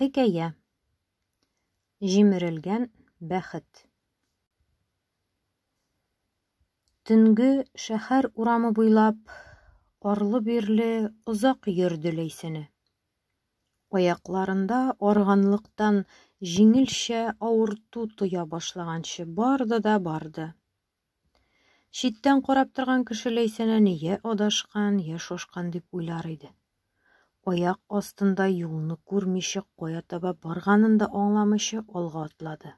Хикәя Җимерелгән бәхет Төнге шәһәр урамы буйлап арлы-бирле озак йөрде Ләйсәнә. Аякларында арганлыктан җиңелчә авырту тоя башлаганчы барды да барды. Читтән карап торган кеше Ләйсәнәне йә адашкан, йә шошкан дип уйлар иде. Аяк астында юлны күрмичә, кая таба барганын да аңламыйча алга атлады.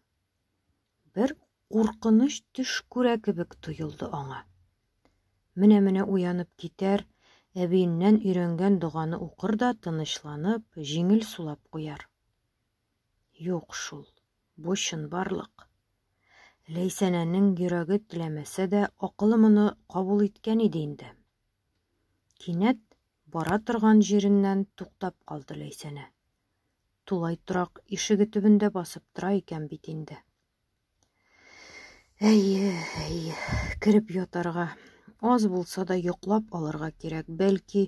Бер куркыныч төш күрә кебек тоелды аңа. Менә-менә уянып китәр, әбиеннән өйрәнгән доганы укыр да тынычланып, җиңел сулап куяр. Юк шул, бу чынбарлык. Ләйсәнәнең йөрәге теләмәсә дә, акылы моны кабул иткән иде инде. Кинәт бара торган җиреннән туктап калды Ләйсәнә. Тулай торак ишеге төбендә басып тора икән бит инде. Әйе, әйе, кереп ятарга. Аз булса да йоклап алырга кирәк. Бәлки,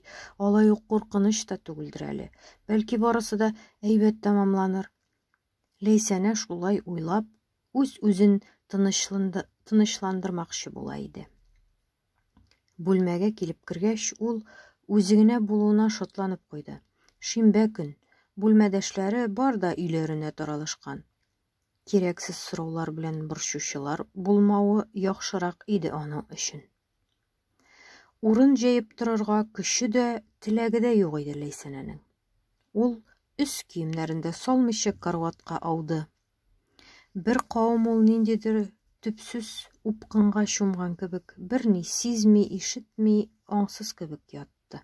алай ук куркыныч та түгелдер әле. Бәлки барысы да әйбәт тәмамланыр. Ләйсәнә шулай уйлап, үз-үзен тынычландырмакчы була иде. Бүлмәгә килеп кергәч, ул үзе генә булуына шатланып куйды. Шимбә көн. Бүлмәдәшләре бар да өйләренә таралышкан. Кирәксез сораулар белән борчучылар булмавы яхшырак иде аның өчен. Урын җәеп торырга көче дә, теләге дә юк иде Ләйсәнәнең. Ул өс киемнәрен дә салмыйча карватка ауды. Бер кавым ул ниндидер төпсез упкынга чумган кебек, берни сизми, ишетми, аңсыз кебек ятты.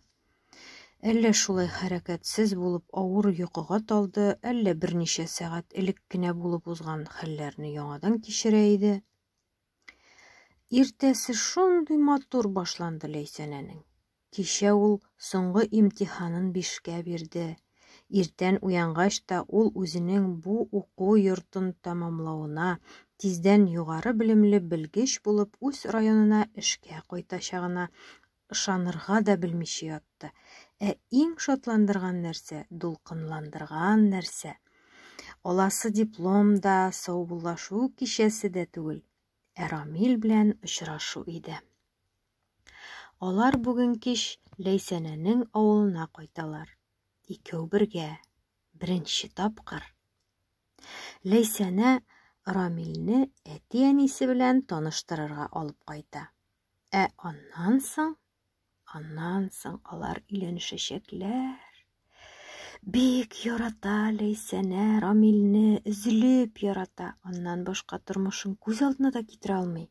Әллә шулай хәрәкәтсез булып авыр йокыга талды, әллә берничә сәгать элек кенә булып узган хәлләрне яңадан кичерә иде. Иртәсе шундый матур башланды Ләйсәнәнең. Кичә ул соңгы имтиханын бишкә бирде. Иртән уянгач та ул үзенең бу уку йортын тәмамлавына, тиздән югары белемле белгеч булып үз районына эшкә кайтачагына Ышанырга да белмичә ятты. Ә иң шатландырган нәрсә, дулкынландырган нәрсә. Аласы диплом да, саубуллашу кичәсе дә түгел, ә Рамил белән очрашу иде. Алар бүген кич Ләйсәнәнең авылына кайталар. Икәү бергә, беренче тапкыр. Ләйсәнә Рамилне әти-әнисе белән таныштырырга алып кайта. Ә аннан соң, аннан соң алар өйләнешәчәкләр. Бик ярата Ләйсәнә Рамилне, өзелеп ярата. Аннан башка тормышын күз алдына да китерә алмый.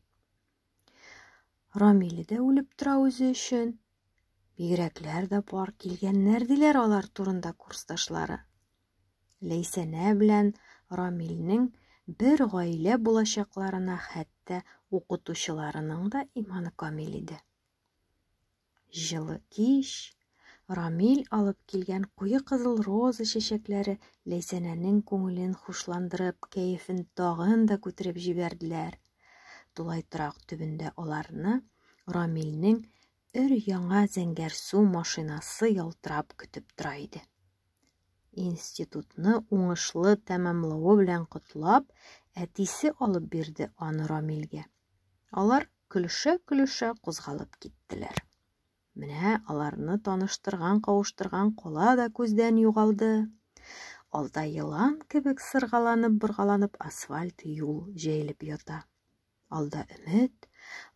Рамиле дә үлеп тора үзе өчен. Бигрәкләр дә бар килгәннәр диләр алар турында курсташлары. Ләйсәнә белән Рамилнең бер гаилә булачакларына хәтта укытучыларының да иманы камил иде. Җылы кич, Рамил алып килгән куе кызыл роза чәчәкләре Ләйсәнәнең күңелен хушландырып, кәефен тагын да күтәреп җибәрделәр. Тулай торак төбендә аларны Рамилнең Өр-яңа зәңгәр су машинасы ялтырап көтеп тора иде. Институтны уңышлы тәмамлавы белән котлап, әтисе алып бирде аны Рамилгә. Алар көлешә-көлешә кузгалып киттеләр. Менә аларны таныштырган-кавыштырган кала да күздән югалды. Алда елан кебек сыргаланып-боргаланып асфальт юл җәелеп ята. Алда өмет,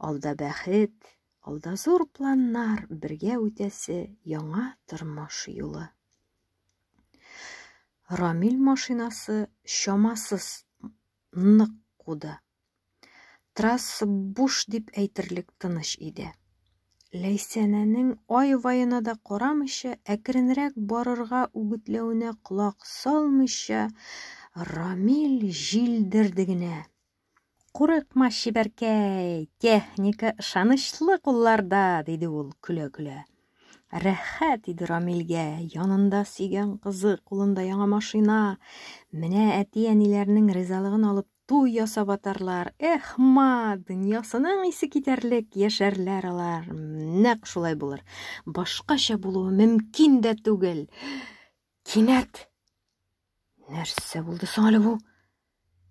алда бәхет, алда зур планнар, бергә үтәсе яңа тормыш юлы. Рамил машинасы чамасыз нык куды. Трасса буш дип әйтерлек тыныч иде. Ләйсәнәнең ай ваена да карамыйча, әкренрәк барырга үгетләвенә колак салмыйча, Рамил җилдерде генә. Курыкма, чибәркәй, техника ышанычлы кулларда, диде ул көлә-көлә. Рәхәт иде Рамилгә, янында сөйгән кызы, кулында яңа машина. Менә әти-әниләрнең ризалыгын алып туй ясап атарлар. Эх, ма, дөньясының исе китәрлек яшәрләр алар. Нәк шулай булыр. Башкача булуы мөмкин дә түгел. Кинәт Нәрсә булды соң әле бу?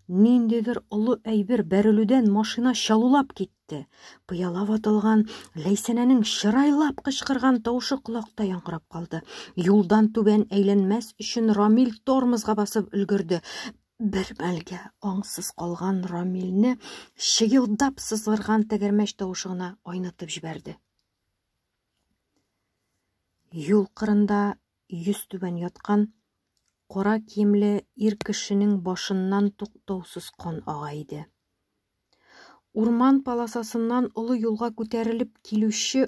Ниндидер олы әйбер бәрелүдән машина чалулап китте. Пыяла ватылган Ләйсәнәнең чырайлап кычкырган тавышы колакта яңгырап калды. Юлдан түбән әйләнмәс өчен Рамил тормозга басып өлгерде. Бер мәлгә аңсыз калган Рамилне чыелдап сызгырган тәгәрмәч тавышы гына айнытып җибәрде. Юл кырында йөзтүбән яткан кара киемле ир кешенең башыннан туктаусыз кан ага иде. Урман паласасыннан олы юлга күтәрелеп килүче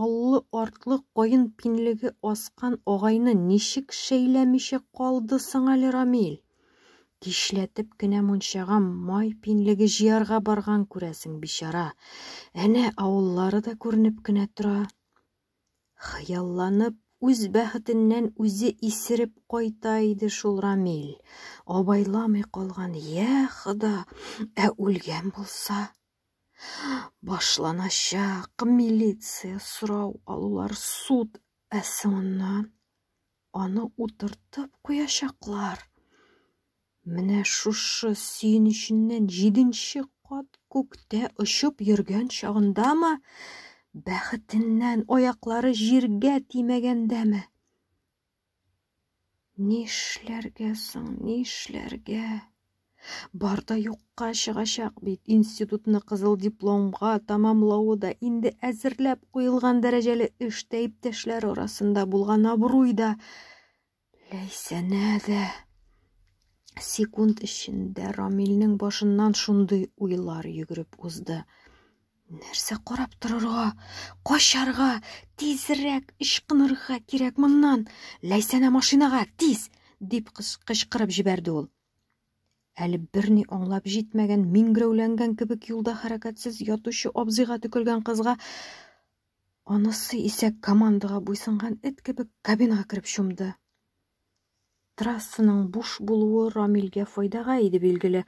аллы артлы каен пинлеге аскан агайны ничек шәйләмичә калды соң әле Рамил? Кичләтеп кенә мунчага май пинлеге җыярга барган күрәсең, бичара. Әнә авыллары да күренеп кенә тора. Хыялланып, үз бәхетеннән үзе исереп кайта иде шул Рамил. Абайламый калган, я хода, ә үлгән булса? Башланачак милиция сорау алулар, суд, ә соңыннан Аны утыртып куячаклар. Менә шушы сөенеченнән җиденче кат күктә очып йөргән чагындамы, бәхетеннән аяклары җиргә тимәгәндәме? Нишләргә соң, нишләргә? Бар да юкка чыгачак бит. Институтны кызыл дипломга тәмамлавы да инде әзерләп куелган дәрәҗәле эштә иптәшләр арасында булган абруй да, Ләйсәнә дә. Секунд эчендә Рамилнең башыннан шундый уйлар йөгереп узды. Нәрсә карап торырга? Качарга, тизрәк ычкынырга кирәк моннан. Ләйсәнә машинага, тиз! дип кычкырып җибәрде ул. Әле берни аңлап җитмәгән, миңгрәүләнгән кебек юлда хәрәкәтсез ятучы абзыйга төкергән кызга анысы исә командага буйсынган эт кебек кабинага кереп чумды. Трассының буш булуы Рамилгә файдага иде билгеле.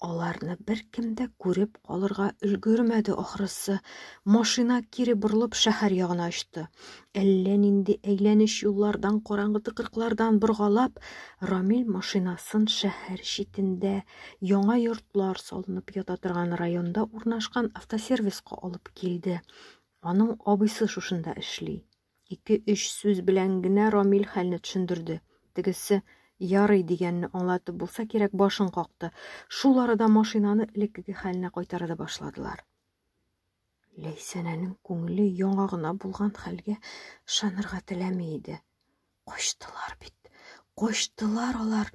Аларны бер кем дә күреп калырга өлгермәде ахрысы. Машина кире борылып шәһәр ягына очты. Әллә нинди әйләнеч юллардан, караңгы тыкрыклардан боргалап, Рамил машинасын шәһәр читендә, яңа йортлар салынып ята торган районда урнашкан автосервиска алып килде. Аның абыйсы шушында эшли. Ике-өч сүз белән генә Рамил хәлне төшендерде. Тегесе ярый дигәнне аңлатып булса кирәк башын какты. Шул арада машинаны элеккеге хәленә кайтарып башладылар. Ләйсәнәнең күңеле яңа гына булган хәлгә ышанырга теләми иде. Качтылар бит. Качтылар алар.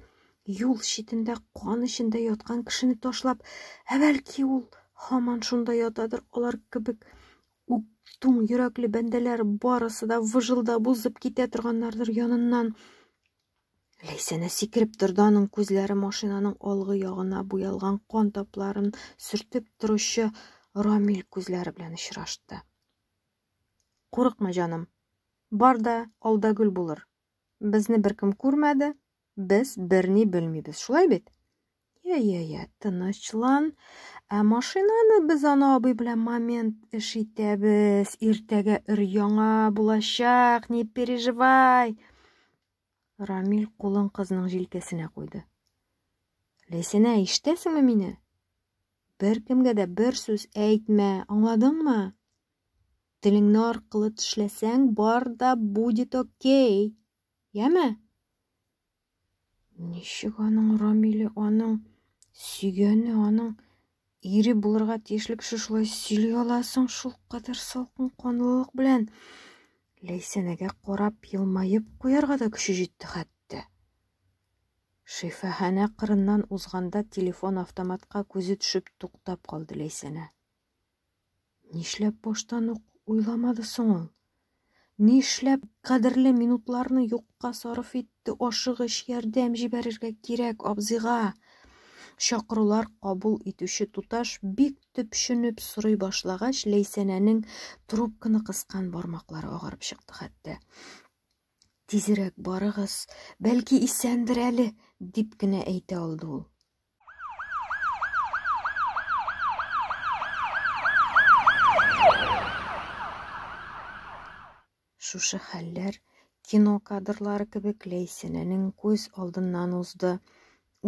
Юл читендә кан эчендә яткан кешене ташлап, ә бәлки ул һаман шунда ятадыр, алар кебек үк туң йөрәкле бәндәләр барысы да выжылдап узып китә торганнардыр яныннан. Ләйсәнә сикереп торды, аның күзләре машинаның алгы ягына буялган кан тапларын сөртеп торучы Рамил күзләре белән очрашты. Курыкма, җаным. Бар да алда гөл булыр. Безне беркем күрмәде, без берни белмибез. Шулай бит? Я, я, я, тынычлан. Ә машинаны без ана абый белән момент эш итәбез. Иртәгә өр яңа булачак, не переживай. Рамил кулын кызның җилкәсенә куйды. Ләйсәнә, ишетәсеңме мине? Беркемгә дә бер сүз әйтмә, аңладыңмы? Телеңне аркылы тешләсәң, бар да будет окей. Яме? Ничек аның Рамиле, аның сөйгәне, аның Ире булырга тиешле кеше шулай сөйли ала соң шул кадәр салкын канлылык белән. Ләйсәнәгә карап елмаеп куярга да көче җитте хәтта. Шифаханә кырыннан узганда телефон автоматка күзе төшеп туктап калды Ләйсәнә. Нишләп баштан ук уйламады соң ул? Нишләп кадерле минутларны юкка сарыф итте? Ашыгыч ярдәм җибәрергә кирәк абзыйга. Чакырулар кабул итүче туташ бик төпченеп сорый башлагач, Ләйсәнәнең трубканы кыскан бармаклары агарып чыкты хәтта. Тизерәк барыгыз, бәлки исәндер әле, дип кенә әйтә алды ул. Шушы хәлләр кино кадрлары кебек Ләйсәнәнең күз алдыннан узды.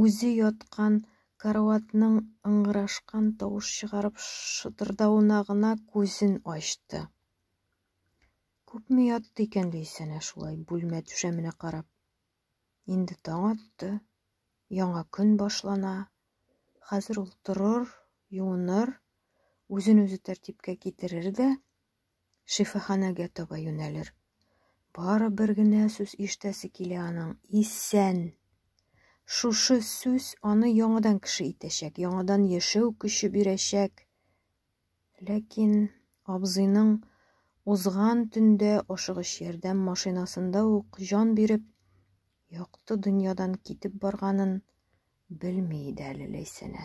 Үзе яткан караватның ыңгырашкан тавыш чыгарып шытырдавына гына күзен ачты. Күпме ятты икән Ләйсәнә шулай бүлмә түшәменә карап. Инде таң атты, яңа көн башлана. Хәзер ул торыр, юыныр, үзен-үзе тәртипкә китерер дә шифаханәгә таба юнәлер. Бары бер генә сүз ишетәсе килә аның, исән. Шушы сүз аны яңадан кеше итәчәк, яңадан яшәү көче бирәчәк. Ләкин абзыйның узган төндә ашыгыч ярдәм машинасында ук җан биреп, якты дөньядан китеп барганын белми иде әле Ләйсәнә.